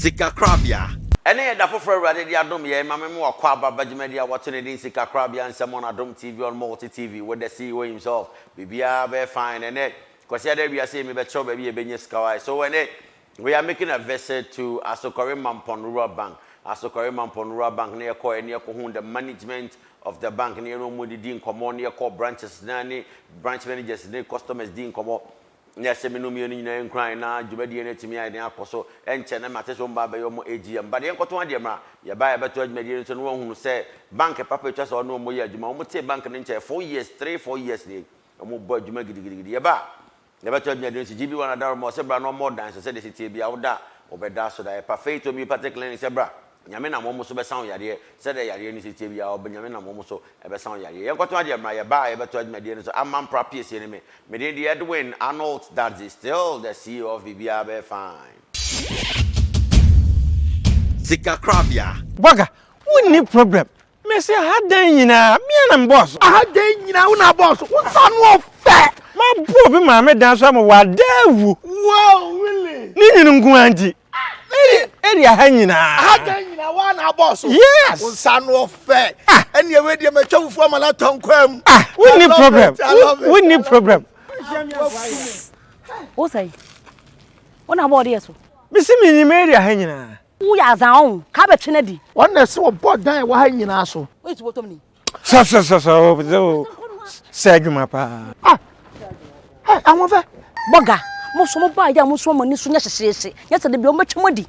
Sikakorabea. Ɛnnɛ yɛ da foforɔ a Awurade de adom yɛn ma mema wakɔ aba ba dwumadie a wɔato no din Sikakorabea Nsɛm on Adom TV on Multi TV with the CEO himself. Biribiara bɛyɛ fine ɛnnɛ. Kwasiada awia sei mebɛkyerɛw baabi a yɛbɛnya sika wai. So ɛnnɛ we are making a visit to Asokore Mampon Rural Bank. Asokore Mampon Rural Bank na yɛkɔeɛ na yɛkɔhuu the management of the bank na yɛne wɔn didi nkɔmmɔ na yɛkɔɔ branches no ara ne branch managers ne customers dii nkɔmmɔ. ne asɛm no mmienu nyinaa nkuran na dwumadie no atumi ayɛ den akɔ so. Ɛnkyɛ na mate sɛ wɔn baa bɛyɛ wɔn AGM. But yɛnkɔtɔn adeɛ mmra. Yɛbaeɛ a yɛbɛtɔɔ dwumadie no nso na wɔahunu sɛ bank papa ɛtwa sɛ ɔne wɔn yɛ adwuma. Wɔtee bank no nkyɛɛ four years, three, four years nie. Wɔbɔ adwuma gidigidigidi. Yɛba a yɛbɛtɔ adwumadie no nso GB1 Adaroma ɔse bra na ɔmmɔ wo dan so sɛdeɛ ɛsi teɛ biara woda a wobɛda so da. Yɛpa Faith Homeopathic Clinic sɛ bra. Nyame nam wɔn so bɛsa wo yareɛ, sɛdeɛ yareɛ no siteɛ biara, ɔb Nyame nam wɔn so bɛsa wo yareɛ. Yɛnkɔtɔn adeɛ mmra, yɛba a yɛbɛtɔ adwumadie no so, Amma mpra piesie ne me. Me din de Edwin Arnolds Dadzie, still the CEO of Biribiara Bɛyɛ Fine. Sika korabea. Burger, wonni problem? Mese aha dan nyinaa, me ara na mebɔɔ so. Aha dan nyinaa, wo na abɔɔ so? Wo nsa ano ɔfɛ! Mabɔ obi maame dan so ama wadaa awu. Wow, really? Ne nwunu nko ara nti. area ha nyinaa ha da nyinaa wa na abɔ so yes nsa no ɔfɛ ɛni ɛwɛ deɛ mɛ twɛ fufu ama na tɔ nkwa mu ah wonni problem wonni problem. o sɛ o na bɔ ɔde yɛ so. mesi mi nyim area ha nyinaa. wo yɛ azan ɔn kaa bɛ twene di. wɔn na ɛsɛ wɔbɔ dan wɔ ha nyinaa so. o yɛ tubɔtɔm ni. Sa sa sa sa o bze o sɛ adwuma paa. Ah ɛ ahoɔfɛ. Bɔga mo so mo baa yɛ a mo nso mo ani so nyɛ hyehyeehye nyɛ sɛ dabi ɔmo bɛtwa mo adi.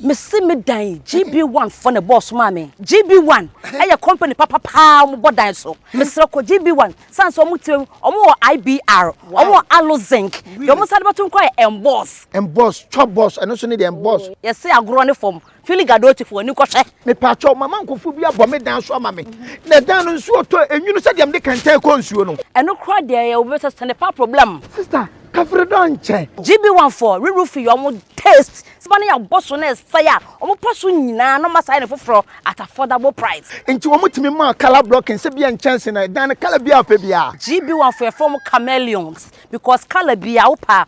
Mesi me dan GB1 fɔ na bɔɔso maa me. GB1 ɛyɛ company papa paa ɔmo bɔ dan so. Mesrɛ kɔ GB1 san sɛ ɔmo tire ɔmo wɔ IBR ɔmo wɔ Allo Zinc deɛ ɔmo san de bɛto nko ayɛ Emboss. Emboss twɔ boss ɛno nso ne deɛ Emboss. Yɛse agorɔ ne fam Fili Gadotifoɔ ani kɔ hwɛ. Mepaakyɛw, mama nkofo bi abɔ me dan so ama me, na dan no nsuo tɔ enwunu sɛdeɛ mede kɛntɛn kɔ nsuo no. Ɛno koraa deɛ ɛyɛ obi sɛ sɛne pa problem. Sister kafiri dɔ nkyɛ. GBOne foɔ rerw fi wɔn taste sima no yɛ abɔ so na ɛsɛe a wɔn pɔ so nyinaa na wɔn asan ayɛ no foforɔ at affordable price. Nti wɔn tumi maa colour blocking sɛ bia nkyɛnse na ɛdan no colour biara a wopɛ biara. GBOne foɔ yɛfrɛ wɔn chameleons because colour biara wopɛ a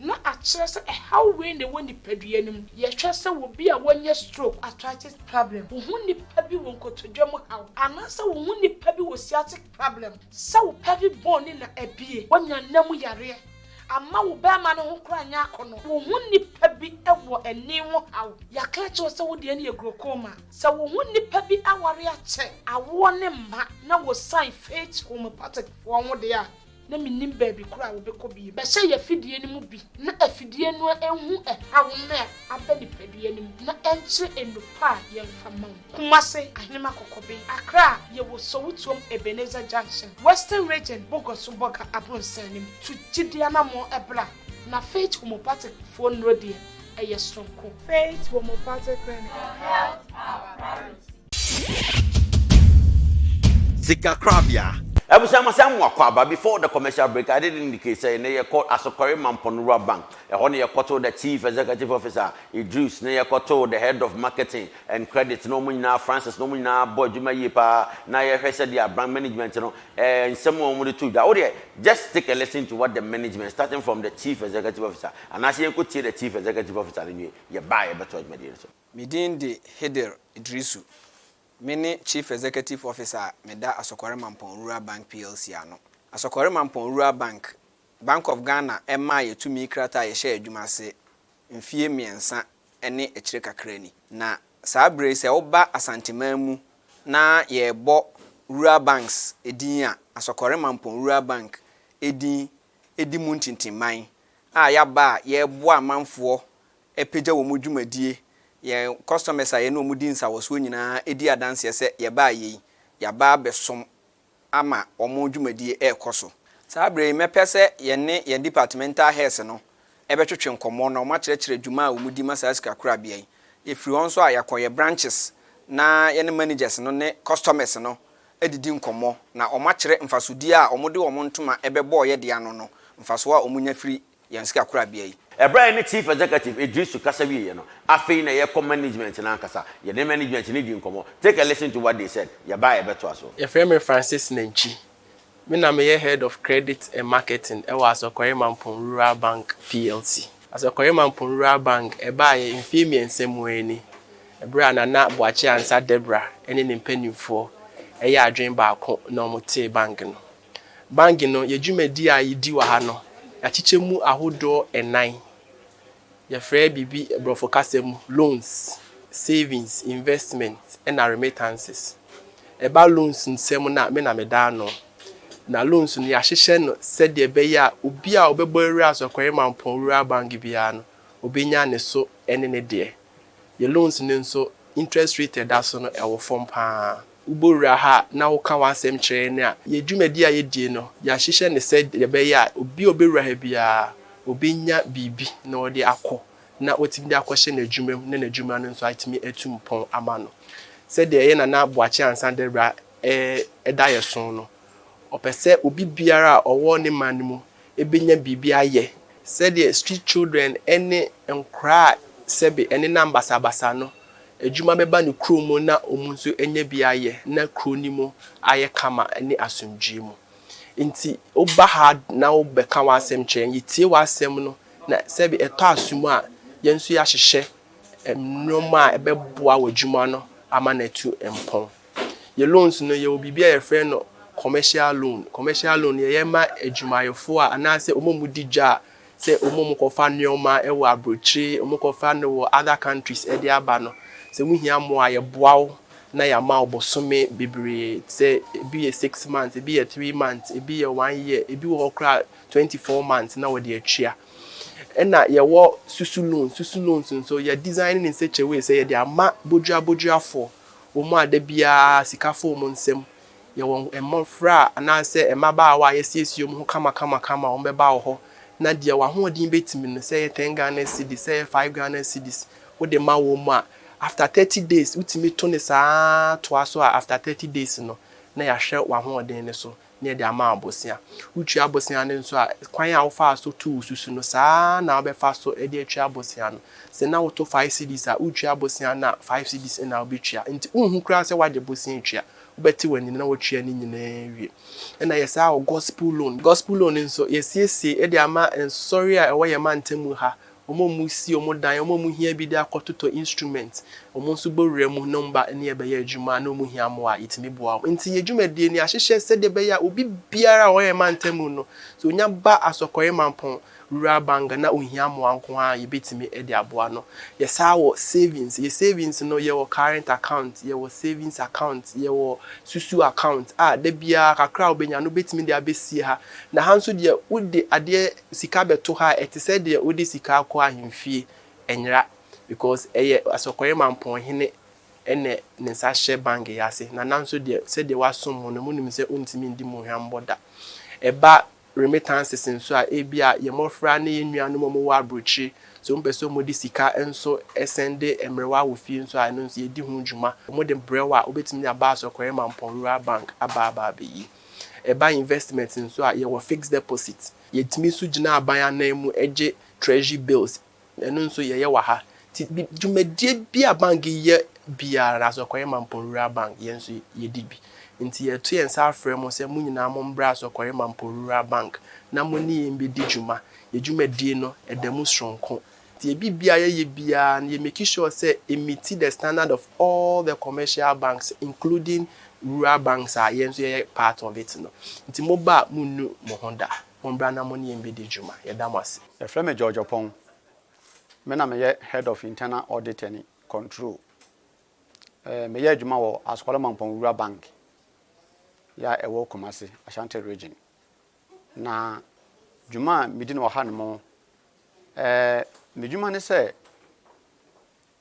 na akyerɛ sɛ ɛhaw wei na ɛwɔ nipadua no mu. Yɛhwɛ sɛ obi a wanya stroke, arthritis problem, wo ho nipa bi wɔ nkotodwe mu haw, anaasɛ wo ho nipa bi wɔ sciatic problem, sɛ wo pelvic bone no na abue, wanya nna mu yareɛ, amma wo barima no ho koraa nyɛ akɔnnɔ, wo ho nipa bi wɔ ani ho haw, yɛaka akyerɛ wo sɛ wo deɛ no yɛ glaucoma, sɛ wo ho nipa bi aware akyɛ, awoɔ ne mma, na wɔsan faith homeopathic foɔ ho deɛ a, na mennim baabi koro a wobɛkɔ bio. Bɛhyɛ yɛn afidie no mu bi na afidie no nhu ɛhaw no a aba nipadua no mu na ɛnkyerɛ nnupa a yɛmfa ma wo. Kumase, Ahenema Kɔkɔben, Accra, Yɛwɔ Sowutuom Ebenezer Junction, Western Region, Bogoso Bɔga Abronsan no mu. Tu gyidie anammɔn bra. Na Faith Homeopathic foɔ nnuro deɛ, ɛyɛ soronko. Faith Homeopathic Clinic, it helps our parents. Sikakorabea. Abusua ma sɛ mo akwaaba before the commercial break I did indicate sɛ nnɛ yɛ kɔ Asokore Mampɔn Rural Bank ɛhɔ na yɛ kɔ too the chief executive officer Idris na yɛ kɔ too the head of marketing and credit na ɔmo nyinaa Francis na ɔmo nyinaa bɔ adwuma yie paa na yɛ hwɛ sɛdeɛ branch management no Ɛɛ nsɛm a wɔde too dwa. Wo deɛ just take a listen to what the management starting from the chief executive officer anaase yɛnkɔ tie the chief executive officer no nwie yɛ ba a yɛ bɛtoa dwumadie no so. Me din de Hidir Iddrisu. Me ne Chief Executive Officer a me da Asɔkɔre Mampɔn Rural Bank plc ano. Asɔkɔre Mampɔn Rural Bank, Bank of Ghana ɛmaa yɛ tumi krataa a yɛhyɛɛ adwuma ase mfie mmiɛnsa ne akyire kakra ni. Na Saa berɛ yi sɛ woba Asanteman mu na yɛrebɔ Rural Banks din a, Asɔkɔre Mampɔn Rural Bank din di mu ntintimman a yɛaba a yɛreboa amanfoɔ apagya wɔn dwumadie. Yɛn customers a yɛne wɔn di nsawɔsoɔ nyinaa di adanseɛ sɛ yɛbaeɛ yi, yɛaba abɛsom. ama wɔn dwumadie rekɔ so. Saa berɛ yi, mɛpɛ sɛ yɛne yɛn departmental heads no bɛtwetwe nkɔmmɔ na wɔakyerɛkyerɛ dwuma a wɔdi ma saa sikakorabea yi. Yɛfiri hɔ nso a, yɛakɔ yɛn branches na yɛne managers no ne customers no adidi nkɔmmɔ na wɔakyerɛ mfasodeɛ a wɔde wɔn ntoma bɛbɔeɛ de ano no, mfasoɔ a wɔnya firi yɛn sikakorabea yi. Ɛberɛ a yɛne Chief Executive Edrisu kasa wieeɛ no, afei na yɛrekɔ management no ankasa. Yɛne management no dii nkɔmmɔ. Take a listen to what they said. Yɛba a yɛbɛtoa so. Yɛfrɛ me Francis Nantwi. Me na meyɛ Head of Credit and Marketing wɔ Asɔkɔre Mampong Rural Bank plc. Asɔkɔre Mampong Rural Bank baeɛ mfeɛ mmiɛnsa mu ara ni, berɛ a Nana Boakye Ansah Deborah ne ne mpanimfoɔ yɛɛ adwene baako na wɔtee bank no. Bangye no, yɛ dwumadi a yedi wɔ ha no, yɛakyekyɛ mu ahodoɔ nnan. Yɛfrɛ biribi Borɔfo kasa mu loans, savings, investment ɛna remittances. Ɛba loans nsɛm no a, me na meda ano. Na loans no, yɛahyehyɛ no sɛdeɛ ɛbɛyɛ a obi a ɔbɛbɔ awura Asɔkɔre Mampɔn Rural Bangye biara no, ɔbɛnya ne so ne ne deɛ. Yɛ loans no nso, interest rate a ɛda so no, ɛwɔ fam pa ara. wobɔwura ha na woka w'asɛm kyerɛ yɛn a, yɛn dwumadi a yɛdie no, yɛahyehyɛ no sɛ deɛ ɛbɛyɛ a obi a ɔbɛwura ha biara, ɔbɛnya biribi na ɔde akɔ, na watumi de akɔhyɛ n'adwuma mu na n'adwuma no nso atumi atu mpɔn ama no. Sɛdeɛ ɛyɛ na na Boakye Ansah Dawura da yɛn so no, ɔpɛ sɛ obi biara a ɔwɔ ne man no mu benya biribi ayɛ. Sɛdeɛ Street Children ne nkoraa a sɛbe ɛnenam basabasa no, adwuma bɛba ne kurom mu na wɔn nso anya bi ayɛ na kuro no mu ayɛ kama ne asomdwoeɛ mu. Nti woba ha na wobɛka w'asɛm kyerɛ yɛn, yɛtie w'asɛm no na sɛbe ɛtɔ asom a, yɛn nso yɛahyehyɛ nnoɔma a ɛbɛboa w'adwuma no ama no atu mpɔn. Yɛ loans no yɛwɔ biribi a yɛfrɛ no commercial loan. Commercial loan yɛ yɛ ma adwumayɛfoɔ a anaasɛ wɔn a wɔn di dwa a sɛ wɔn a wɔn kɔ fa nnoɔma wɔ abrokyire, wɔn kɔ fa no wɔ other countries de aba no sɛ wo hia mmoa a yɛ boa wo na yɛ ama wo bosome bebree sɛ ebi yɛ six months, ebi yɛ three months, ebi yɛ one year, ebi wɔ hɔ koraa a twenty four months na wɔde atua. Ɛna yɛ wɔ susu loans, susu loans nso yɛ design no in such a way sɛ yɛde ama bodwira bodwirafoɔ Wɔn a da biara sika fɔ wɔn nsam, yɛwɔ mmofra anaasɛ mmabaawa a yɛasiesie wɔn ho kamakamakama a wɔbɛba wo hɔ, na deɛ w'ahoɔden bɛtumi no, sɛ ɛyɛ ten Ghana cedis, sɛ ɛyɛ five Ghana cedis, wode ma wɔn a, after thirty days, wotumi to no saa ara toa so a, after thirty days no, na yɛahwɛ w'ahoɔden no so, na yɛde ama abosea. Wotua abosea no nso a, kwan a wofaa so too wo susu no, saa ara na wobɛfa so de atua abosea no. Sɛ na woto five cedis a, woretua abosea no a, five cedis na wobɛtua. Enti wonhu koraa sɛ woagye bosea atua. Wobɛte w'ani no na woatua ne nyinaa awie. Ɛnna yɛ saa wɔ gospel loan. Gospel loan nso, yɛasiesie de ama nsɔre a ɛwɔ yɛn mantam ha. Wɔn a wɔsi wɔn dan, wɔn a wɔhia bi de akɔtotɔ instrument, wɔn nso bɔ wura mu na wɔn ba ne rebɛyɛ adwuma a, na wɔhia mmoa a, yɛtumi boa wɔn. Enti yɛn dwumadie no, yɛahyehyɛ sɛdeɛ ɛbɛyɛ a obi biara a ɔyɛ mantamu no, sɛ ɔnya ba Asɔkɔre Mampɔn, Rural Abanga na ɔhia mmoa nko ara a, yɛbɛtumi de aboa no. Yɛsan wɔ savings. Yɛn savings no, yɛwɔ current account, yɛwɔ savings account, yɛwɔ susu account a da biara kakra a wobɛnya no, wobɛtumi de abɛsie ha Na ha nso deɛ, wode adeɛ sika bɛto ha a, ɛte sɛ deɛ wode sika akɔ ahemfie. Ɛnyera, because ɛyɛ Asɔkɔre Mampɔn hene na ne nsa hyɛ bank yi ase. Na na nso deɛ, sɛdeɛ woasom mo no, monim sɛ wontumi ndi mo hwammɔ da. Ɛba remittances nso a, ebia yɛn mmɔfra ne yɛn nuanom a wɔwɔ aburokyire, sɛ wɔpɛ sɛ wɔde sika nso sɛnde mmerewa wɔ fie nso a, ɛno nso yɛdi ho dwuma. Wɔde brɛ wo a, wobɛtumi de aba Asɔkɔre Mampɔn Rural Bank aba aba abɛyi. Ɛba investment nso a, yɛwɔ fixed deposit. Yɛtumi nso gyina aban anan mu gye Treasury bills. Ɛno nso, yɛyɛ wɔ ha. Nti, dwumadie bi a bank yɛ biara, anaasɛ Ɔkɔre Mampong-Rural Bank, yɛn nso yɛdi bi. Nti, yɛto yɛn nsa frɛ mo sɛ mo nyinaa mommra Ɔkɔre Mampong-Rural Bank na mo ne yɛn mmɛdi dwuma. Yɛn dwumadie no, ɛda mu sononko. Deɛ biribiara yɛyɛ biara no yɛ make sure sɛ ɛmiti the standard of all the commercial banks including rural banks a yɛn nso yɛyɛ part of it no. Nti moba a monnu mo ho da. Mommra na mo ne yɛn mmɛdi dwuma. Yɛda mo ase. Yɛfrɛ me George Opong. Me na meyɛ Head of Internal Audit and Control. Meyɛ adwuma wɔ Asokɔlɔ Mampɔn Rural Bank yi a ɛwɔ Kumasi, Ashanti Region. Na dwuma a medi no wɔ ha nom Ɛɛ, n'edwuma ne sɛ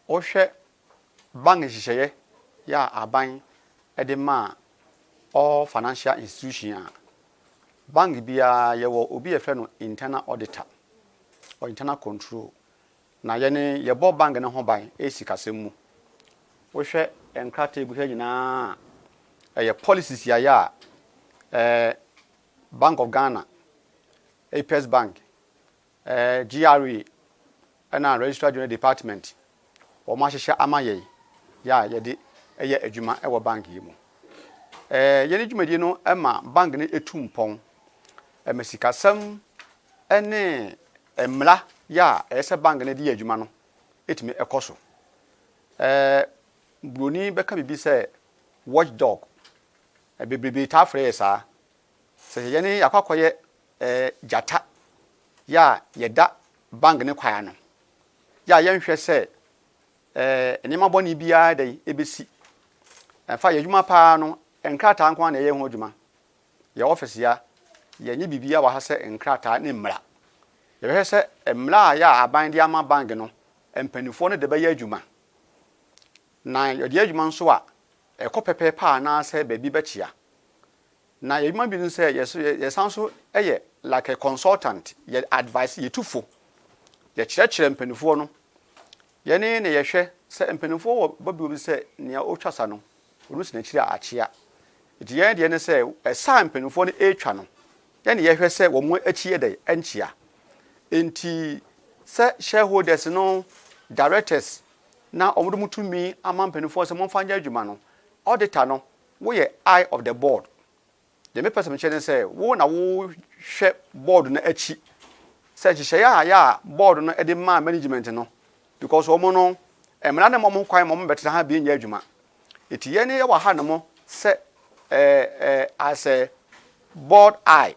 ɔhwɛ bank nhyehyɛeɛ yɛ a aban de ma all financial institution a bank biara yɛwɔ obi a yɛfrɛ no internal auditor or internal control na yɛne yɛbɔ bank no ho ban ɛyɛ sikasɛm mu wohwɛ nkrataa egu ha nyinaa a ɛyɛ policies yɛayɛ a ɛɛ bank of ghana apes bank Ɛɛ GRA ɛna Registrar General Department wɔn ahyehyɛ ama yɛn yɛ a yɛde yɛ adwuma wɔ bank yi mu. Ɛɛ yɛn dwumadie no ɛma bank no etu mpɔn, ɛma sikasɛm ɛne mmara yɛ a ɛyɛ sɛ bank no ɛde yɛ adwuma no etumi ɛkɔ so. Ɛɛ broni bɛka biribi sɛ watchdog, bebrebe taa frɛ yɛ saa. Sɛ yɛne akɔ akɔyɛ eh, gyata yɛ a yɛda bang ne kwae ano yɛ a yɛnhwɛ sɛ eh, nneɛma bɔne biara dɛn ebesi. Ɛmfa yɛ adwuma paa no, nkrataa nko ara na yɛyɛ ho adwuma. Yɛ office ya, yɛnyɛ biribiara wɔ ha sɛ nkrataa ne mmara. Yɛbɛhwɛ sɛ mmara a yɛ a aban de ama bang no, mpanimfoɔ no de bɛyɛ adwuma. Na yɛde yɛ adwuma nso a, ɛkɔ pɛpɛɛpɛ anaasɛ baabi bɛkyea. Na yɛdwuma bi ne sɛ yɛso yɛsan nso yɛ like a consultant, yɛ advice, yɛ tufo, yɛkyerɛkyerɛ mpaninfoɔ no, yɛne na yɛhwɛ sɛ mpaninfoɔ wɔ bɔbio bi sɛ nea ɔtwa sa no ɔno si n'akyiri a akyea, nti yɛn deɛ ne sɛ ɛsa a mpaninfoɔ no ɛretwa no yɛne yɛhwɛ sɛ wɔn akyi yɛ dɛn ɛnkyea, nti sɛ shareholders no, directors na wɔn de wɔn tumi ama mpaninfoɔ sɛ momfa nyɛ adwuma no, auditor no Woyɛ eye of the board. Deɛ mepɛ sɛ mekyerɛ ne sɛ, wo na wohwɛ board no akyi sɛ nhyehyɛeɛ a ayɛ a board no de maa management no, because wɔn no, mmara no mma wɔn kwan ma wɔbɛtena ha bie nyɛ adwuma. Enti yɛn yɛwɔ ha nom sɛ eh, eh, as a board eye,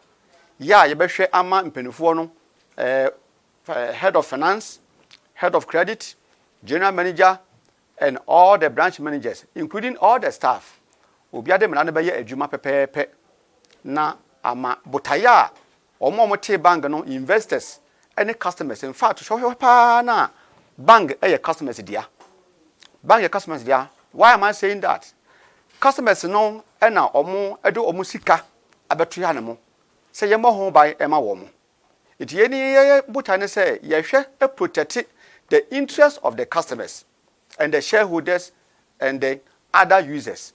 yɛ a yɛbɛhwɛ ama mpanimfoɔ no, eh, eh, head of finance, head of credit, general manager, and all the branch managers including all the staff obia de mmara no bɛyɛ adwuma pɛpɛɛpɛ na ama botaeɛ a wɔn a wɔtee bank no investors ne customers in fact hwɛhwɛ paa no a bank yɛ customers dea bank yɛ customers dea why am I saying that customers no na wɔn de wɔn sika abɛtoa ne mo sɛ yɛmmɔ ho ban ma wɔn Nti yɛn ni yɛyɛ botae ne sɛ yɛhwɛ protɛte the interest of the customers and the shareholders and the other users.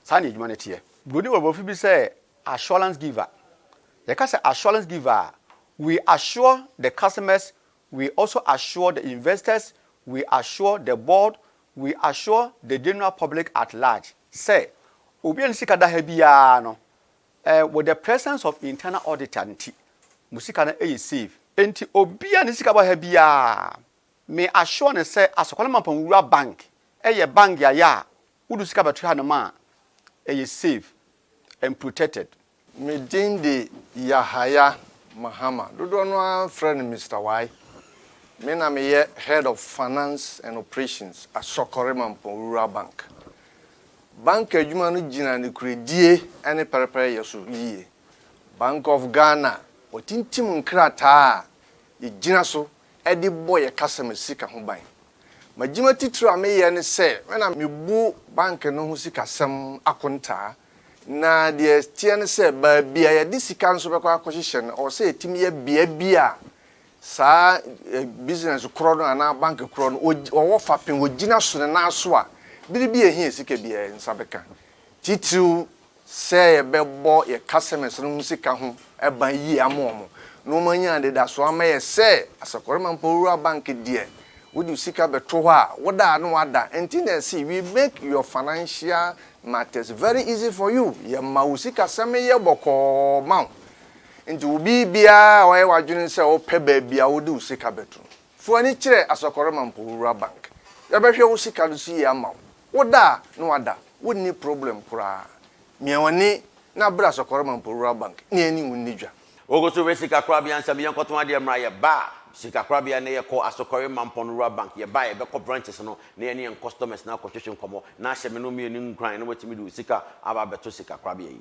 Saa na adwuma no teɛ. Buroni wɔ borɔfo bi sɛ assurance giver. Yɛka sɛ assurance giver a, we assure the customers, we also assure the investors, we assure the board, we assure the general public at large sɛ obiara ne sika da ha biara no Eh with the presence of internal auditor nti mo sika no yɛ safe. Enti obi a ne sika bɔ ha biara me assure no sɛ Asokwala Mampɔn Wura Bank yɛ bank a yɛ a wo de sika bɛto hanom a ɛyɛ safe and protected. Me din de Yahaya Mahama, dodoɔ no ara frɛ no Mister Wai. Me na meyɛ Head of Finance and Operations Asɔkɔre Mampɔn Wura Bank. Bank adwuma no gyina nokorɛdie ne pɛrɛpɛrɛyɛ so yie. Bank of Ghana wɔtintim nkrataa a yɛgyina so de bɔ yɛn customer sika ho ban. M'adwuma titire a meyɛ ne sɛ me na mebu bank no ho sikasɛm akontaa na deɛ ɛteɛ ne sɛ baabi a yɛde sika nso bɛkɔ akɔhyehyɛ no ɛwɔ sɛ yɛtumi yɛ bea bi a Saa business korɔ no anaa bank korɔ no ɔwɔ fapem ɔgyina so no nan so a, bere bi a ɛhia sika bi a yɛn nsa bɛka, titiriw sɛ yɛbɛbɔ yɛn customers no ho sika ho ban yie ama wɔn na wɔanya anidasoɔ ama yɛn sɛ Asakwɔrima Mpɔwura Bank deɛ, wode wo sika bɛto hɔ a, wo da a na wada. Ɛnti na yɛse we make your financial matters very easy for you, yɛma wo sikasɛm yɛ bɔkɔɔ ma wo. Enti wo biribiara a woayɛ w'adwene sɛ wopɛ baabi a wode wo sika bɛto no, fa w'ani kyerɛ Asɔkɔrɔma Mpohowura Bank. Yɛbɛhwɛ wo sika no so yie ama wo. Woda a, na wada. Wonni problem koraa. Mia w'ani na brɛ Asɔkɔrɔma Mpohowura Bank na yɛne wo nni dwa. Wokɔ so frɛ sikakorabea nsɛm, yɛnkɔtɔn adeɛ mmra. Yɛba a, sikakorabea na yɛkɔ, Asɔkɔrema Mpɔnowura Bank. Yɛba a, yɛbɛkɔ branches no na yɛne yɛn customers no akɔtwetwe nkɔmmɔ na ahyɛ me ne wo mmienu nkuran na woatumi de wo sika aba abɛto sikakorabea yi.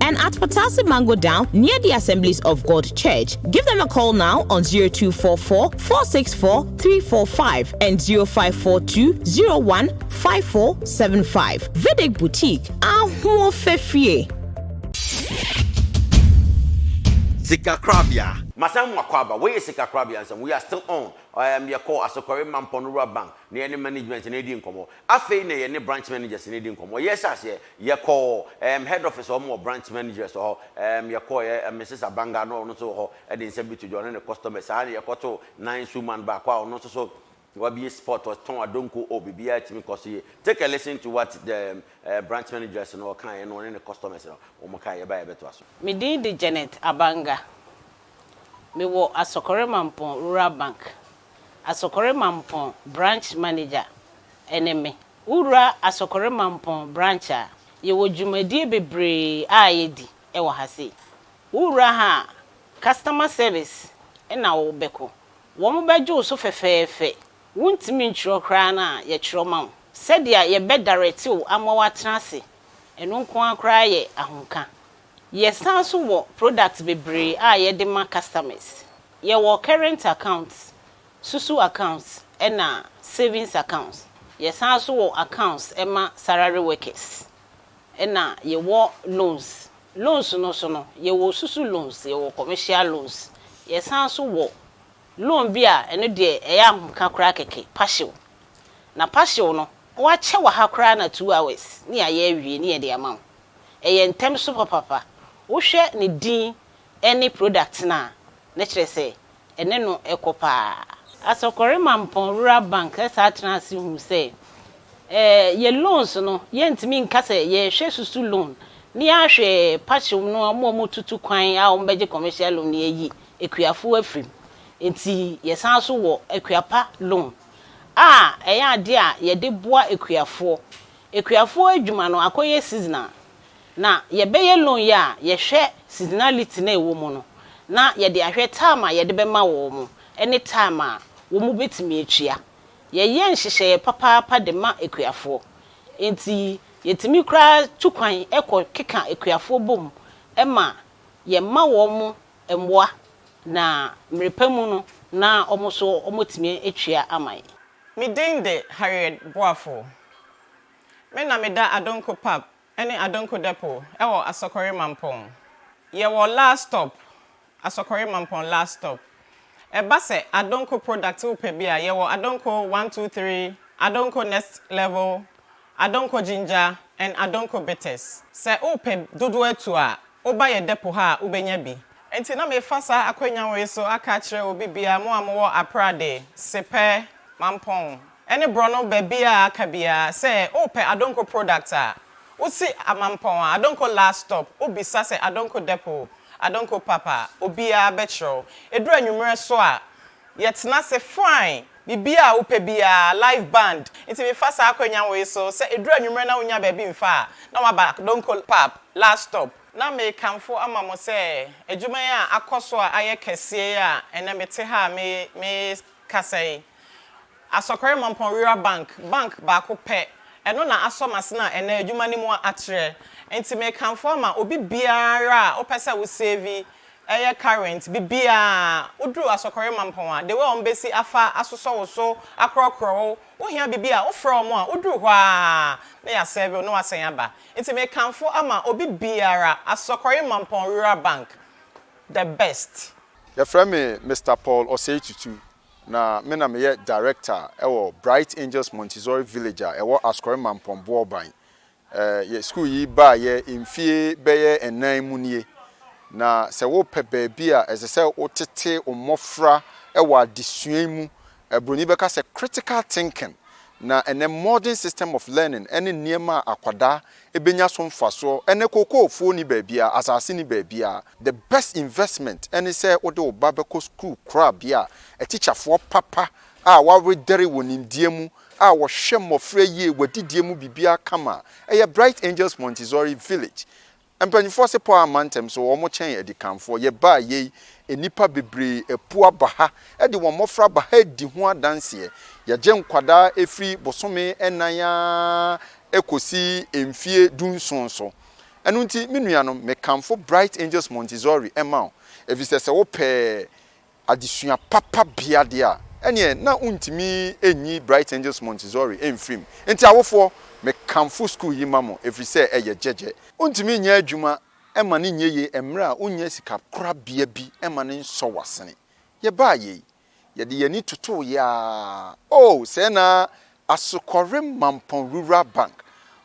And at Patasse Mango Down near the Assemblies of God Church. Give them a call now on 0244 464 345 and 0542 01 5475. Vedic Boutique. Ahuo Fefie. Sika Korabea. Masan mu akɔ aba. Wei yɛ Sika Korabea nsɛm. We are still on. Um, yɛkɔ Asokɔre Mampɔn Rural Bank na yɛne management no redi nkɔmmɔ. Afei na yɛne branch managers no redi nkɔmmɔ. Yɛhyɛ aseɛ, Yɛkɔɔ ɛɛm head office hɔ, wɔn wɔ branch managers wɔ hɔ, ɛɛm yɛkɔɔeɛ, ɛɛm Mrs Abanga no ɔno nso wɔ hɔ de nsɛm bi to dwa, ɔne ne customers, saa na yɛkɔtoo Nine Sue man baako a ɔno nso so wabue spot, ɔtɔn adonko, oh biribiara tumi kɔ so yie. Take a listen to what the ɛɛm branch managers no ɔkaeɛ na ɔne ne customers no wɔn kaeɛ, yɛba a yɛbɛtoa so. Me din de Janet Abanga. Me wɔ Asɔkɔre Mampong Rural Bank, Asɔkɔre Mampong branch manager ne me. Wowura Asokore Mampong Branch a, yɛwɔ dwumadie bebree a yɛdi wɔ ha sei. Wowura ha a, customer service na wobɛkɔ. Wɔbɛgye wo so fɛfɛɛfɛ. Wontumi ntwerɛ koraa no a, yɛtwerɛ ma wo. Sɛdeɛ yɛbɛ direct wo ama woatena ase, ɛno nko ara koraa yɛ ahomka. Yɛsan nso wɔ products bebree a yɛde ma customers. Yɛwɔ current account, Susu accounts ɛna savings accounts. Yɛ san nso wɔ accounts ɛma salary workers. Ɛna yɛ wɔ loans. Loans no nso no yɛ wɔ susu loans, yɛ wɔ commercial loans. Yɛ san nso wɔ loan bi a ɛno deɛ ɛyɛ ahomka koraa kɛkɛ, partial. Na partial no wɔakyɛ wɔ ha koraa na two hours ne yɛ ayɛ awie ne yɛ de ama wo. Ɛyɛ ntɛm so papapa. Wo hwɛ ne din Ɛne product no a na kyerɛ sɛ ɛne no kɔ paa. Asɔkɔre Mampɔn Rural Bank saa tenaa ase huu sɛ, eh, yɛn loans no, yɛntumi nka sɛ yɛrehwɛ susu loan ne ahwɛ pakyem no a wɔn a wɔtutu kwan a wɔbɛgye commercial loan no ayi akuafo afiri mu. Enti yɛsan nso wɔ Akuapa Loan a ɛyɛ ade a yɛde boa akuafoɔ. Akuafoɔ adwuma no akɔyɛ seasonal. Na yɛbɛyɛ loan yi a yɛhwɛ seasonality no a ɛwɔ mu no na yɛde ahwɛ time a yɛde bɛma wɔn ne time a wɔbɛtumi atua. Yɛyɛ nhyehyɛeɛ papaapa de ma akuafoɔ. Enti yɛtumi koraa tu kwan kɔ keka akuafoɔ bom ma yɛma wɔn mmoa na mmerɛpa mu no na wɔn nso wɔatumi atua ama yɛn. Me din de Harriet Boafo. Me na meda Adonko Pub ɛne Adonko Depot ɛwɔ Asɔkɔre Mampɔn. Yɛwɔ last stop, Asɔkɔre Mampɔn last stop. Ɛba sɛ Adonko product wo pɛ bi a, yɛwɔ Adonko one two three, Adonko Next Level, Adonko Ginger and Adonko Bitters. Sɛ wo pɛ dodoɔ atu a, wo ba yɛ depot ha a wo bɛnya bi. Nti na mefa saa akwanya wei so aka akyerɛ obi biara, mo a mo wɔ Aprade, Sepɛ, Mampɔn, ɛne borɔno baabi a aka biara sɛ wopɛ Adonko product a, wosi Amampɔn a, Adonko last stop, wobisa sɛ Adonko depot, Adonko pap a, obiara bɛkyerɛ wo. Ɛduru anwummerɛ nso a, yɛtena ase fine, biribiara a wopɛ biara, live band. Nti mefa saa akwanya wei so, sɛ ɛduru anwummerɛ na wonnya baabi mfa a, na woaba Adonko pap, last stop. Na mekamfo ama mo sɛ, adwuma yi a akɔ so a ayɛ kɛseɛ yi a ɛnnɛ mete ha a mekasa yi, Asɔkɔre Mampɔn Rural Bank, bank baako pɛ, ɛno na asɔ m'asen a ɛnnɛ adwuma no mu a atrɛ. Enti mekamfo ama obi biara a wopɛ sɛ wo save yɛ current bibiaa woduru Asɔkɔre Mampɔn a, the way a wɔbɛsi afa asosɔ wo so, akorɔkorɔ wo, wo hia bibi a, wofrɛ wɔn a woduru hɔ ara na yɛasɛve wo na woasan aba. Enti mekamfo ama obi biara, Asɔkɔre Mampɔn Rural Bank, the best. Yɛfrɛ me Mister Paul Osei Tutu. Na me na meyɛ Director wɔ Bright Angels Montessori Village a ɛwɔ Ascori Mampong Boɔban. Yɛ sukuu yi baeɛ mfie bɛyɛ nnan mu nie. Na sɛ wopɛ baabi a ɛsɛ sɛ wotete wo mmɔfra wɔ adesua yi mu, Buroni bɛka sɛ critical thinking, na ɛnnɛ modern system of learning ne nneɛma a akwadaa Ɛbɛnya so mfasoɔ. Ɛnnɛ kookoofuo nni baabiara, asase nni baabiara. The best investment ne sɛ wode wo ba bɛkɔ sukuu korabea a atikyafoɔ papa a wɔawedɛre wɔ nimdeɛ mu a wɔhwɛ mmɔfra yie, w'adidie mu biribiara kama. Ɛyɛ Bright Angels Montessori Village. Mpanimfoɔ se pɔ amma ntɛm so, wɔkyɛn adikanfoɔ. Yɛbaa yei, nnipa bebree apu aba ha de wɔn mmɔfra aba ha redi ho adanseɛ. Yɛgye nkwadaa firi bosome nnan ara kosi mfie dunson so. Ɛno nti, me nuanom, mekamfo Bright Angels Montessori ma wo, efisɛ sɛ wopɛ adesua papa bea de a, ɛnneɛ na wontumi nyi Bright Angels Montessori mfiri mu. Enti awofoɔ, mekamfo sukuu yi ma mo, ɛfiri sɛ ɛyɛ gyɛgyɛ. Wontumi nyɛ adwuma ma no nyɛ yie mmerɛ a wonnya sikakorabea bi ma no nsɔ w'asene. Yɛbaa yei, Yɛde yɛn ani totoo yɛ ara. Oh, sɛɛ na Asukɔrem Mampɔn Rural Bank,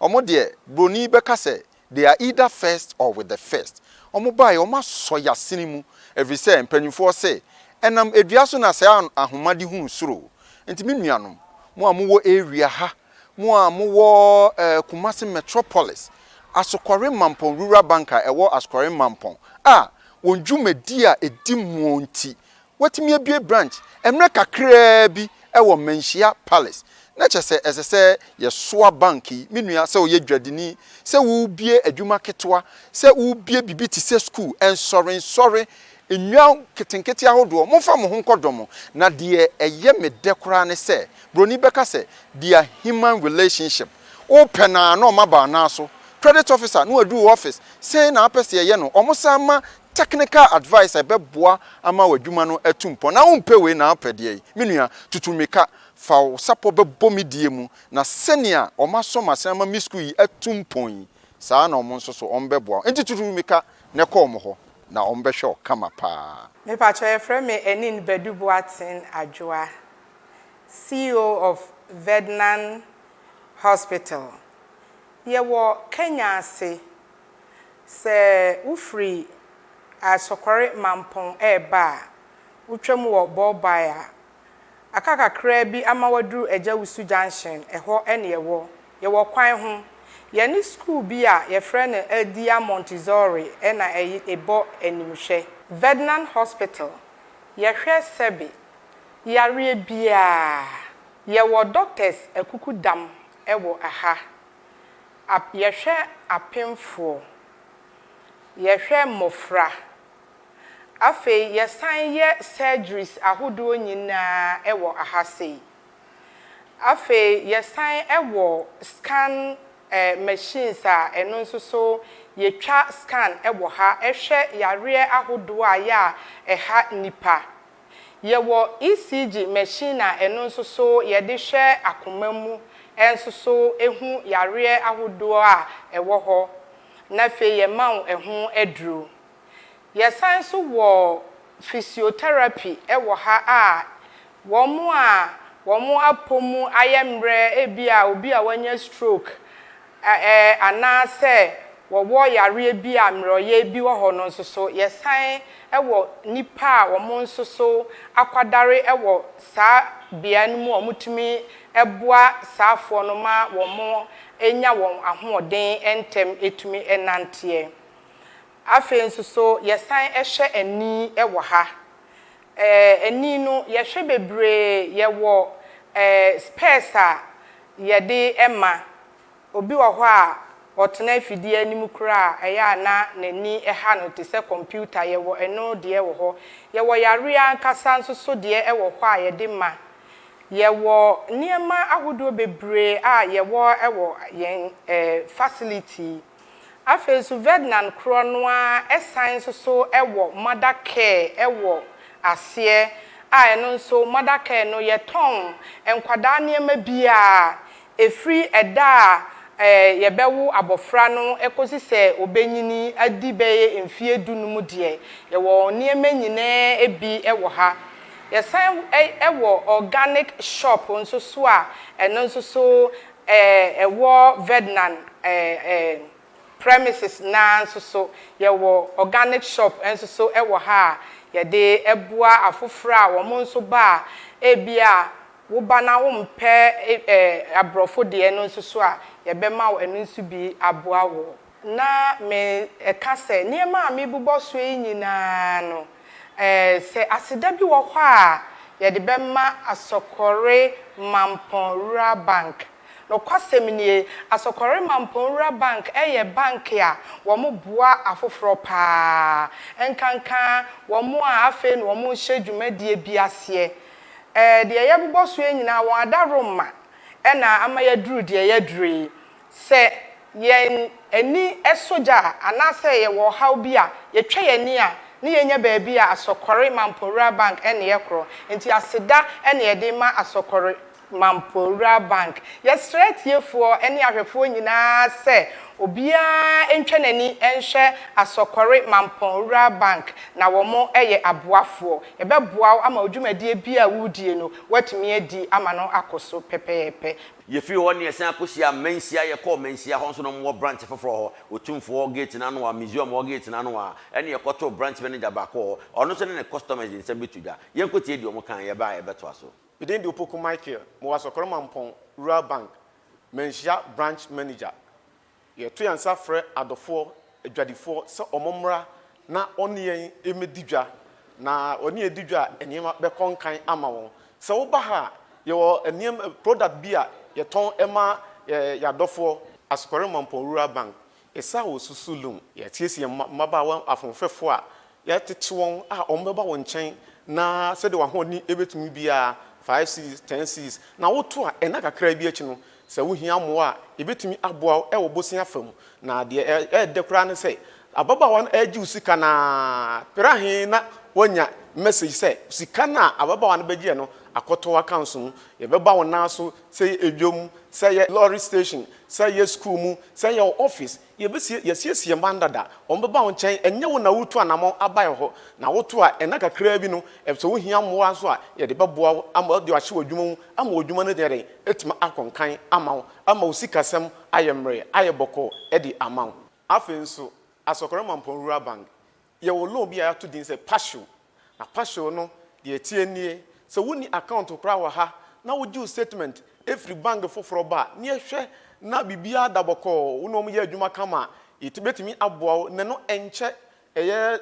wɔn deɛ, Buroni bɛka sɛ, they are either first or with the first. Wɔn baeɛ, wɔn asɔ yɛn asene mu, ɛfiri sɛ, mpanimfoɔ se, Ɛnam dua so na saa ahoma de hunu soro. Enti me nuanom, mo a mowɔ area ha, mo a mowɔ eh, Kumasi Metropolis, Asukɔrem Mampɔn Rural Bank a ɛwɔ Asukɔrem Mampɔn a wɔn dwumadi a ɛdi muo nti, Wɔatumi abue branch mmerɛ kakraa bi wɔ Manhyia Palace. Na kyerɛ sɛ ɛsɛ sɛ yɛsoa bank yi. Me nua, sɛ woyɛ dwadini, sɛ worebue adwuma ketewa, sɛ worebue biribi te sɛ sukuu, nsɔrensɔre, nnwan nketenkete ahodoɔ, momfa mo ho nkɔdɔ mo. Na deɛ ɛyɛ me dɛ koraa ne sɛ, buroni bɛka sɛ, Dear human relationship. Wopɛ no ara na wɔma baa no ara so. Credit officer, na waduru wo office, sɛn na wopɛ sɛ yɛyɛ no? Wɔsan ma Technical advice a ɛbɛboa ama w'adwuma no atu mpɔn. Na wompɛ wei na wopɛ deɛ yi? Me nua, tutu mmirika, fa wo sapɔ bɛbɔ me die mu, na sɛnea wɔasɔ m'asene ama me sukuu yi atu mpɔn yi, saa ara na wɔn nso so, wɔbɛboa wo. Enti tutu mmirika na kɔ wɔn hɔ, na wɔbɛhwɛ wo kama pa ara. Mepakyɛ yɛfrɛ me Enine Badu Boateng Adwoa, CEO of Vednan Hospital. Yɛwɔ Kenya ase. Sɛ wofiri Asɔkɔre Mampong reba a, wotwam wɔ Bɔɔbae a, aka kakraa bi ama woaduru Agyawusu Junction, ɛhɔ ne yɛwɔ. Yɛwɔ kwan ho. Yɛne sukuu bi a yɛfrɛ no Eldia Montessori na ɛbɔ animhwɛ. Vednan Hospital, Yɛhwɛ sɛbe yareɛ biara. Yɛwɔ Doctors akukudam wɔ ha. Ap, Yɛhwɛ apemfoɔ, yɛhwɛ mmɔfra. Afei yɛsan yɛ surgeries ahodoɔ nyinaa wɔ aha sei. Afei yɛsan wɔ scan eh, machines a ɛno nso so yɛtwa scan wɔ ha hwɛ yareɛ ahodoɔ a ɛyɛ a ɛha nnipa. Yɛwɔ ECG machine a ɛno nso so yɛde hwɛ akoma mu nso so hu yareɛ ahodoɔ a ɛwɔ hɔ na afei yɛma wo ɛho aduro. Yɛsan nso wɔ physiotherapy wɔ ha a wɔn a wɔn apɔ mu ayɛ mmerɛ ebia obi a wanya stroke Ɛ Anaasɛ wɔwɔ yareɛ bi a mmerɛwyɛ bi wɔ hɔ no nso so. Yɛsan wɔ nnipa a wɔn nso so akwadare wɔ saa bea no mu a wɔtumi boa saafoɔ no ma wɔnya wɔn ahoɔden ntɛm tumi nanteɛ. Afei nso so, yɛsan hwɛ ani wɔ ha. Ɛɛ, ani no, yɛhwɛ bebree. Yɛwɔ ɛɛ spɛɛs a yɛde ma. Obi wɔ hɔ a, ɔtena afidie anim koraa a, ɛyɛ a na n'ani ha no te sɛ kɔmputa. Yɛwɔ ɛno deɛ wɔ hɔ. Yɛwɔ yareɛ ankasa nso so deɛ wɔ hɔ a yɛde ma. Yɛwɔ nneɛma ahodoɔ bebree a yɛwɔ wɔ yɛn ɛɛ facility Afei nso Värtnand korɔ no ara san nso so wɔ mother care wɔ aseɛ a ɛno nso mother care no yɛtɔn nkwadaa nneɛma biara ɛfiri ɛda a yɛbɛwo abɔfra no kɔsi sɛ ɔbɛnyini adi bɛyɛ mfeɛ du no mu deɛ yɛwɔ nneɛma nyinaa bi wɔ ha. Yɛsan wɔ organic shop nso so a ɛno nso so Ɛwɔ Verdnan premises no ara nso so, yɛwɔ organic shop nso so wɔ ha a yɛde boa afoforɔ a wɔn nso ba a ebia woba na wompɛ aborɔfo deɛ no nso so a, yɛbɛma wo ɛno nso bi aboa wo. Ná meka sɛ, Nneɛma a mebobɔ so yi nyinaa no, sɛ aseda bi wɔ hɔ a yɛde bɛma Asɔkɔre Mampɔn Rural Bank. Nokwasɛm nie, Asɔkɔre Mampɔn Rural Bank yɛ bank a wɔboa afoforɔ pa ara, ɛnkanka wɔn a afei na wɔrehyɛ dwumadie bi aseɛ. Deɛ yɛbobɔ so yi nyinaa, wɔn adaworoma na ama yɛaduru deɛ yɛaduru yi. Sɛ yɛn ani sɔ gya anaasɛ yɛwɔ ɔhaw bi a, yɛtwa yɛn ani a, na yɛnya baabi a Asɔkɔre Mampowura Bank ne yɛ korɔ. Enti aseda na yɛde rema Asɔkɔre Mampowura Bank. Yɛsrɛ atiefoɔ ne ahwɛfoɔ nyinaa sɛ obiara ntwa n'ani nhwɛ Asɔkɔre Mampowura Bank, na wɔyɛ aboafoɔ. Yɛbɛboa wo ama wo dwumadie biara a woredie no, woatumi adi ama no akɔ so pɛpɛɛpɛ. Yɛfiri hɔ na yɛsan akɔhyiaa Manhyia, yɛkɔɔ Manhyia hɔ nso na wɔwɔ branch foforɔ hɔ, Otumfoɔ hɔ gate no ano hɔ a, Museum hɔ gate no ano hɔ a, ɛnna yɛkɔtoo branch manager baako wɔ hɔ, ɔno nso ne ne customers de nsɛm bɛto dwa. Yɛnkɔtie deɛ wɔkaeɛ, yɛba a yɛbɛtoa so. Me din de Opoku Michael, mewɔ Asɔkɔrɔ Mampɔn Rural Bank, Manhyia branch manager. Yɛto yɛn nsa frɛ adɔfoɔ adwadifoɔ sɛ wɔmmra na wɔne yɛn mmɛdi dwa, na wɔne yɛn di dwa a, nneɛma bɛkɔ nkan ama wɔn. Sɛ woba ha a, yɛwɔ nneɛma, product bi a yɛtɔn ma yɛn adɔfoɔ. Asokore Mampong Rural Bank, Esawo Susu Lum. Yɛasiesie yɛn mmabaawa ahoɔfɛfoɔ a Yɛtete wɔn a wɔbɛba wo nkyɛn na sɛdeɛ w'ahoɔden bɛtumi biara, five cedis, ten cedis, na woto a, nna kakra bi akyi no, sɛ wohia mmoa a, yɛbɛtumi aboa wo wɔ bosea fa mu. Na deɛ ɛyɛ dɛ koraa ne sɛ, ababaawa no regye wo sika no ara pere ahe na woanya message sɛ sika no a ababaawa no bɛgyeɛ no akɔtɔ w'accounts mu. Yɛbɛba wo nan so, sɛ ɛyɛ dwam, sɛ ɛyɛ lorry station, sɛ ɛyɛ school mu, sɛ ɛyɛ wo office, Yɛbɛsie, yɛasiesie mma no dada, wɔbɛba wo nkyɛn, ɛnyɛ wo na woretu anammɔn abae hɔ, na woto a, nna kakraa bi no, sɛ wohia mmoa nso a, yɛde bɛboa wo ama wɔde wo ahyɛ w'adwuma mu ama w'adwuma no ayɛ dɛn, atumi akɔ nkan ama wo, ama wo sikasɛm ayɛ mmerɛ, ayɛ bɔkɔɔ de ama wo. Afei nso, Asɔkora Mampɔn Rural Bank, Yɛwɔ loan bi a yɛato din sɛ Passion. Na Passion no, deɛ ɛteɛ nie, sɛ wonni account koraa wɔ ha na wogye wo statement firi bank foforɔ ba a, na yɛhwɛ na biribiara da bɔkɔɔ, wo ne wɔn yɛ adwuma kama a, yɛbɛtumi aboa wo. Na ɛno ɛnkyɛ, ɛyɛ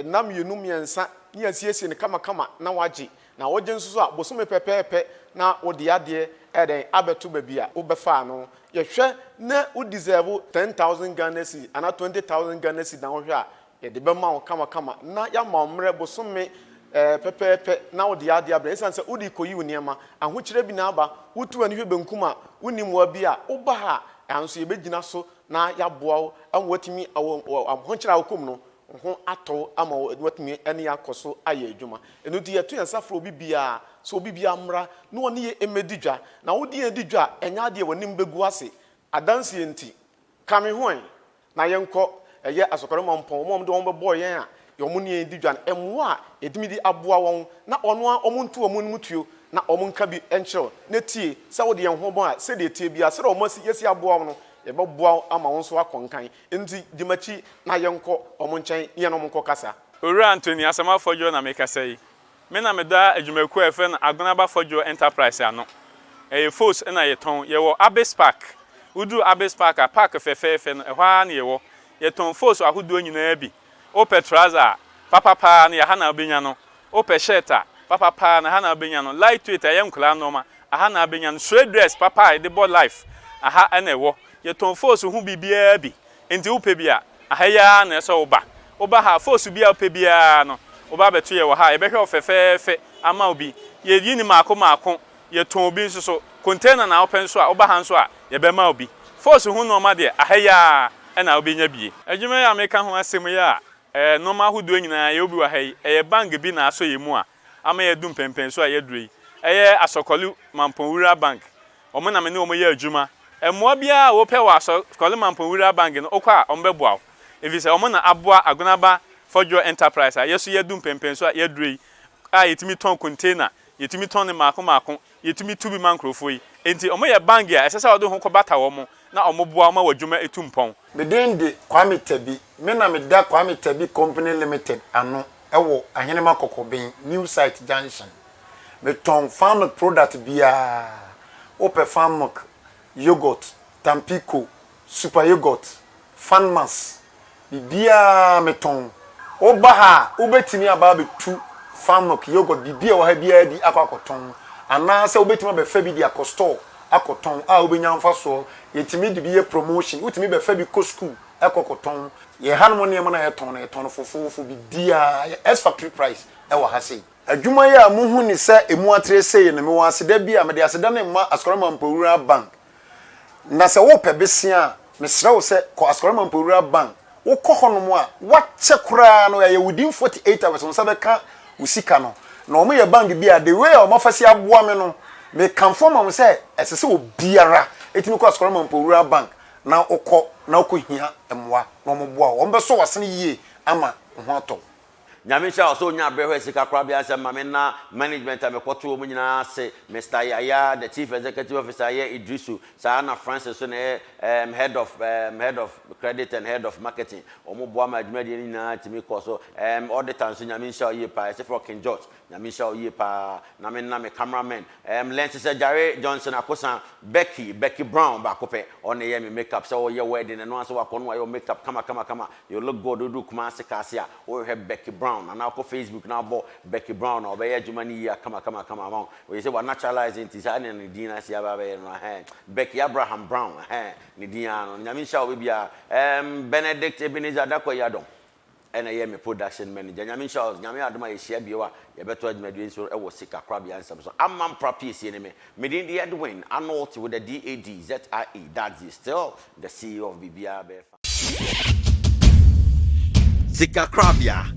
nna mmienu, mmiɛnsa na yɛasiesie no kamakama na woagye. Na wogye nso so a, bosome pɛpɛɛpɛ na wode adeɛ ɛyɛ dɛn abɛto baabi a wobɛfaa no. Yɛhwɛ na wo deserve ten thousand Ghana cedi anaa twenty thousand Ghana cedi na wohwɛ a, yɛde bɛma wo kamakama na yɛama wo mmerɛ bosome ɛɛ pɛpɛɛpɛ na wode adeɛ abrɛ. Ɛsiane sɛ wode rekɔyi wo nneɛma, ahokyerɛ bi na aba, wotu w'ani hwɛ benkum a, wonni mmoa bi a, woba ha a, nanso yɛbɛgyina so na yɛaboa wo ama woatumi, wɔ ahokyerɛ a wokɔ mu no, wo ho atɔ wo ama wo, na woatumi ne akɔ so ayɛ adwuma. Ɛno nti, yɛto yɛn nsa frɛ obi biara sɛ obi biara mmra na ɔne yɛn mmɛdi dwa. Na wo de yɛn di dwa a, ɛnyɛ adeɛ a w'anim bɛgu ase. Adanseɛ nti, ka me ho ɛ na yɛnkɔ ɛyɛ Asɔkɔre Mampɔn, wɔn a wɔde wɔn bɛbɔɔ yɛn a wɔne yɛn redi dwa no, mmoa a yɛtumi de aboa wɔn, na wɔn ara wɔnto wɔn anim tuo na wɔnka bi nkyerɛ wo, na tie sɛ wode yɛn ho bɔ a, sɛdeɛ ɛteɛ biara, sɛdeɛ wɔasi yɛasi aboa wo no, yɛbɛboa wo ama wo nso woakɔ nkan. Nti di m'akyi na yɛnkɔ wɔn nkyɛn ne yɛne wɔn nkɔkasa. Owura Anthony Asamoah Fɔdwoɔ na mekasa yi. Me na meda adwumakuo a yɛfrɛ no Agonaba Fɔdwoɔ Enterprise ano. Ɛyɛ Fos na yɛtɔn. Yɛwɔ Abis Park. Woduru Abis Park a, park fɛfɛɛfɛ no, ɛhɔ ara na yɛwɔ. Yɛtɔn Fos ahodoɔ nyinaa bi. Wopɛ trouser a, papa paa no yɛ ha na wobɛnya no. Wopɛ shirt a, papa paa no aha na wobɛnya no. Lightweight a ɛyɛ nkwadaa nnoɔma, aha na wobɛnya no. Suede dress papa a yɛde bɔ life, aha na ɛwɔ. Yɛtɔn Fosu ho biribiara bi, enti wopɛ bi a, aha yi ara na ɛsɛ sɛ woba. Woba ha a, Fosu bi a wopɛ biara no, woba abɛto yɛn wɔ ha a, yɛbɛhwɛ wo fɛfɛɛfɛ ama wo bi. Yɛyi no mmaako mmaako, Yɛtɔn obi nso so. Container na wopɛ nso a, woba ha nso a, yɛbɛma wo bi. Force ho nnoɔma deɛ, aha yi ara na wobɛnya bi. Adwuma yi a meka ho asɛm yi a ɛyɛ nnoɔma ahodoɔ nyinaa, yɛwɔ bi wɔ ha yi, ɛyɛ bank bi na asɔ yɛn mu a ama yɛadu mpɛnpɛnsoɔ a yɛaduru yi. Ɛyɛ Asɔkɔle Mampong Wuraa Bank. Wɔn na me ne wɔn yɛ adwuma. Mmoa biara a wopɛ wɔ Asɔkɔle Mampong Wuraa Bank no, wokɔ a, wɔbɛboa wo. Ɛfiri sɛ, wɔn na aboa Agonaba Fɔdwoɔ Enterprise a yɛn nso yɛadu mpɛnpɛnsoɔ a yɛaduru yi a yɛtumi tɔn container Yɛtumi tɔn no mmaako mmaako. Yɛtumi tu bi ma nkurɔfoɔ yi. Enti wɔyɛ bangye a ɛsɛ sɛ wɔde ho kɔbata wɔn na wɔboa wɔn ma wɔn adwuma tu mpɔn. Me din de Kwame Tabi. Me na meda Kwame Tabi Company Limited ano wɔ Ahenema Kɔkɔben, New Site Junction. Metɔn farm milk product biara. Wopɛ farm milk, yoghurt, Tampico, Super Yoghurt, Fanmas, biribiara metɔn. Woba ha a, wobɛtumi aba abɛtu Fanmilk, Yoghurt, biribi a ɛwɔ ha biara bi akɔ akɔtɔn. Anaasɛ wobɛtumi abɛfa bi de akɔ store akɔtɔn a wobɛnya mfasoɔ. Yɛtumi de bi yɛ promotion. Wotumi bɛfa bi kɔ sukuu kɔ kɔtɔn. Yɛn hanom nneɛma no a yɛtɔn no, yɛtɔn no fofoofo, biribiara, ɛyɛ S factory price wɔ ha sei. Adwuma yi a mohu ne sɛ ɛmu atere sei no, mewɔ aseda bi a mede aseda no rema Asukariman Mpoyira Bank. Na sɛ worepɛ bosea a, mesrɛ wo sɛ kɔ Ascori Mampowura Bank. Wokɔ hɔnom a, woakyɛ koraa no, ɛyɛ within 48 hours wo nsa bɛka wo sika no. Na wɔyɛ bank bi a, the way a wɔafa si aboa me no, mekamfo ma wo sɛ ɛsɛ sɛ obiara tumi kɔ Ascori Mampowura Bank na wokɔ na wokɔhia mmoa na wɔboa wo. Wɔbɛsɔ w'asene yie ama wo ho atɔ wo. Nyame nhyira wo sɛ wonya aberɛ hwɛ sika koraa biaa sɛ ma me na management a mekɔto wɔn nyinaa ase Mister Yaya the chief executive officer yɛ Idrisu saa na Francis nso na ɛyɛ ehm head of ehm head of credit and head of marketing wɔn boa ma adwumadie no nyinaa tumi kɔ so ehm auditor nso Nyame nhyira wo yie paa yɛse frɛ wo King George Nyame nhyira wo yie paa na me na me camera men ɛɛm lens sɛ Jare Johnson Akosa Becky Becky Brown baako pɛ ɔn na ɛyɛɛ me make up sɛ ɔɔyɛ wedding ɛno ara sɛ wakɔ no wayɛ wo make up kama kama kama you look good wodu Kumasi Kaase a wohwehwɛ Becky Brown anaa wokɔ Facebook na wobɔ Becky Brown a ɔbɛyɛ adwuma no yie akama kama kama ama wo ɔyɛ sɛ wa naturalize nti saa na ne din no asi aba abɛyɛ no ahɛɛ Becky Abraham Brown ahɛɛ ne din ara no Nyame nhyira wo baabiara ɛɛm Benedict Ebenezer Dakwai Adom Ɛna yɛ me production manager. Nyame nhyira wo. Nyame adom a yɛhyia bio a yɛbɛto adwumadie nso wɔ sika korabea nsɛm so. Amam pra piesie ne me. Me din de Edwin Anolti with a DAD, ZIE, Dadzi, still the CEO of Biribiara Bɛyɛ Fine. Sika korabea.